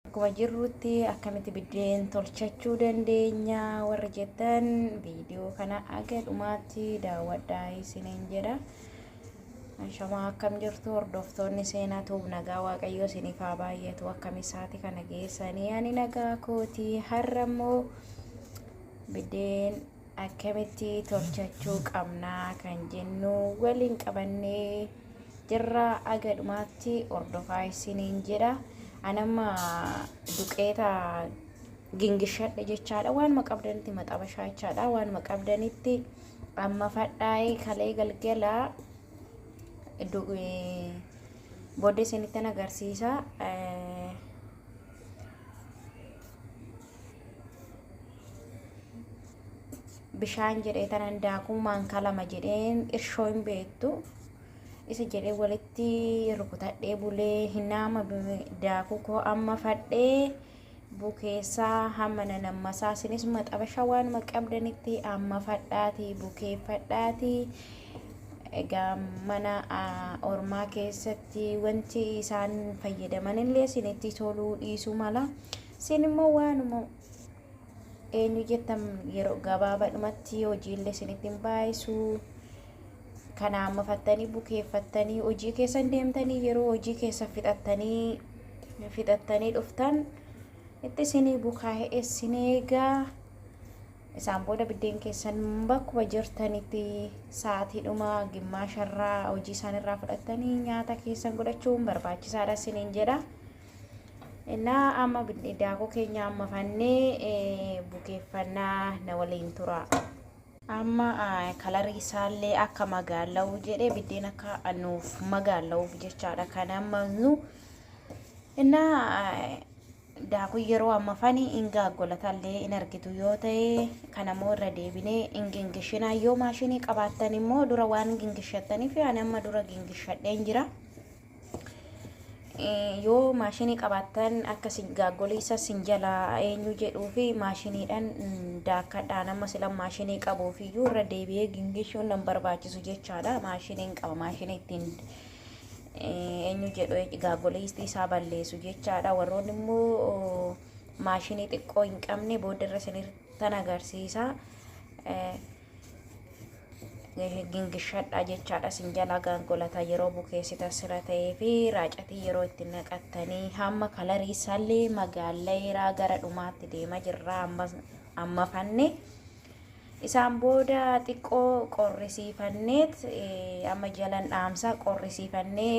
akkuma jirrutti akkamitti biddeen tolchachuu dandeenya warri jettan viidiyoo kana aga dhumaatti daawwadhaa isiniin jedha. Shamaa akkam jirtu hordoftoonni seenaa tuub nagaa waaqayyoo isiniif haa baay'atu akkam isaati kana geessanii ani nagaa kooti har'a immoo Biddeen akkamitti tolchachuu qabnaa kan jennu waliin qabannee jirra aga dhumaatti hordofaa isiniin jedha. Anamma duqeeta gingishadhe jechaadha waanuma qabdanitti maxabashaa jechaadha waanuma qabdanitti amma fadhaa'ee kalee galgala du- eh, booddee isinittan agarsiisa. Eh, bishaan jedhee tanan daakuu maankaa lama jedheen irshoo hin beektu isa jedhee walitti rukutadhee bulee hinaama daakuu koo amma fadhee bukeessaa hamma nanammasaa sinis maxabasha waanuma qabdanitti amma fadhaatii bukeeffadhaatii egaa mana ormaa keessatti wanti isaan fayyadaman illee isinitti toluu dhiisuu mala Isin immoo waanuma eenyu jettan yeroo gabaabaadhumatti hojiillee isinitti hin baay'isu. Kana amma fattanii bukeeffattanii hojii keessan deemtanii yeroo hojii keessan fixattanii fixattanii dhuftan itti isinii bukaa'e isin eegaa. Isaan booda biddeen keessan bakkuma jirtanitti sa'aatiidhuma gimmaasharraa hojii isaanirraa fudhattanii nyaata keessan godhachuun barbaachisaadha isiniin jedha. እና amma daakuu keenya amma fannee bukeeffannaa na waliin tura. Amma kalarii isaallee akka magaala'u jedhee biddeen akka nuuf magaala'uuf jechaadha kan amma nu እና daakuu yeroo amma fani hin gaaggolatallee hin argitu yoo ta'e kan ammoo irra deebinee hin gingishinaa yoo maashinii qabaattan immoo dura waan gingishattaniif ani amma dura gingishadheen jira. Yoo maashinii qabaattan akka sin gaaggoliisa sin jalaa eenyu jedhuu fi maashiniidhaan daakkadhaan amma sila maashinii qabuuf iyyuu irra deebi'ee gingishuun nan barbaachisu jechaadha. Maashiniin qaba maashinii ittiin eenyu jedhu gaaggoliistii isaa balleessu jechaadha. Warroonni immoo maashinii xiqqoo hin qabne booda irra sinirtan agarsiisa. gingishadhaa jechaadha sin jalaa gaangolata yeroo bukeessita sira ta'ee fi raacatii yeroo itti naqattanii hamma kalarii isaallee magaalleeraa gara dhumaatti deema jirra amma fanne isaan booda xiqqoo qorrisiifanneet amma jalan dhaamsa qorrisiifannee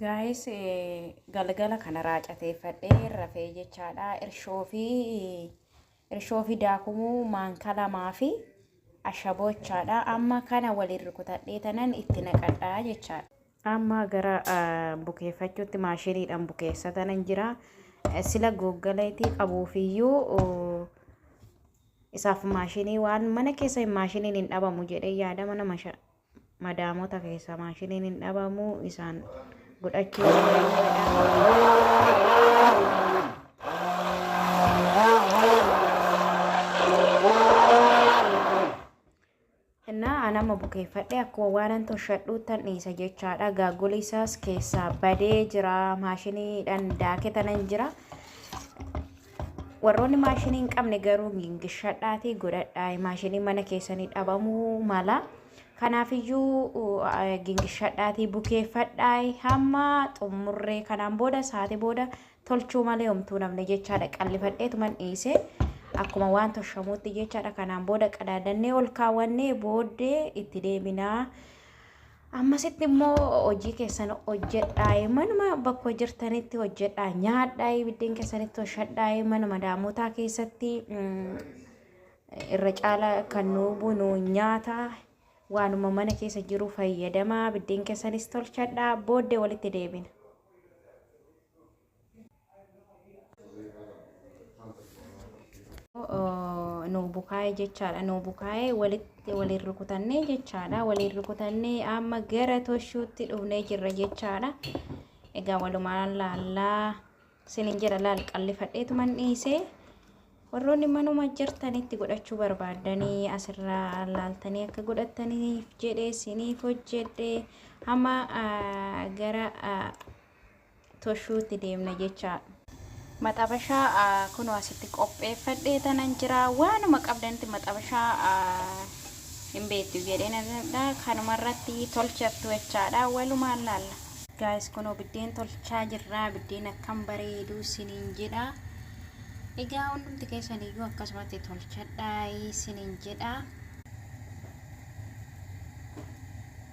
Guys galgala kana raacateeffadhee rafee jechaadha irshoo fi irshoo fi daakumuu maankaa lamaa fi ashaboo jechaadha amma kana waliin rukutadhee tanan itti naqadhaa jechaadha. Amma gara bukeeffachuutti maashiniidhaan bukeessa tanan jira sila googgaleetii qabuufiyyuu isaaf maashinii waan mana keessa hin maashiniin hin dhabamu jedhee yaada mana masha madaamota keessaa maashiniin hin dhabamu isaan godhachuu innaa anama bukeeffadhe akkuma waanan toshadhuuttan dhiisa jechaadha gaaguli isaas keessaa badee jira maashiniidhan daaketanan jira Warroonni maashinii hin qabne garuu gingishadhaatii godhadhaa. Maashinii mana keessanii dhabamuu mala. Kanaafiyyuu gingishadhaatii bukeeffadhaa hamma xumurree kanaan booda sa'aatii booda tolchuu malee homtuu namni jechaadha qallifadheetuman dhiise. Akkuma waan toshamuutti jechaadha kanaan booda qadaadannee ol kaawwannee booddee itti deeminaa. Ammasitti immoo hojii keessan hojjedhaayi manuma bakkoo jirtanitti hojjedhaa nyaadhaayi biddeen keessanitti hoshadhaayi mana madaamotaa keessatti irra caala kan nuu bunu nyaata waanuma mana keessa jiru fayyadamaa biddeen keessanis tolchadhaa booddee walitti deebina. nu bukaa'ee jechaadha nu bukaa'ee walitti waliin rukutannee jechaadha waliin rukutannee amma gara toshuutti dhufnee jirra jechaadha egaa walumaan laallaa sinin jedha laal qallifadheetuman dhiisee warroonni manuma jirtanitti godhachuu barbaaddanii asirraa laaltanii akka godhattaniif jedhee siniif hojjedhe hamma gara toshuutti deemna jechaadha. Maxabashaa kunoo asitti qopheeffadhee tanan jira. Waanuma qabdanitti maxabashaa hin beektu jedhee nanadha. Kanuma irratti tolchattu jechaadha. Walumaan laalla. Gaayis kunoo biddeen tolchaa jirra. Biddeen akkam bareedu siniin jedha. Egaa hundumti keessan iyyuu akkasumatti tolchadhaa siniin jedha.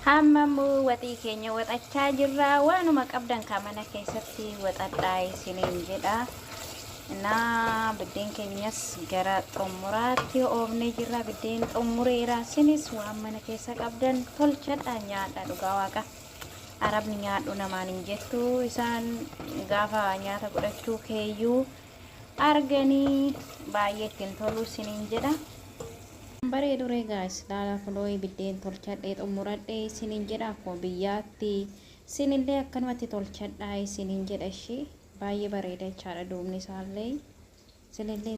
Amma immoo waxii keenya waxachaa jirra. Waanuma qabdan kaa mana keessatti waxadhaa isiniin jedha. Naa biddeen keenyas gara xumuraatti oofnee jirra. Biddeen xumureera. Sinis waan mana keessa qabdan tolchadha nyaadha dhugaa waaqa. Arabni nyaadhu namaan hin jettu. Isaan gaafa nyaata godhachuu keeyyuu arganii baay'ee ittiin toluu isiniin jedha. Bareedu ree gaayis laala kunoo biddeen tolchadhee xumuradhee isiniin jedha akkuma biyyaatti isinillee akkanumatti tolchadhaa isiniin jedha ishii baay'ee bareeda jechaadha duubni isaallee isinillee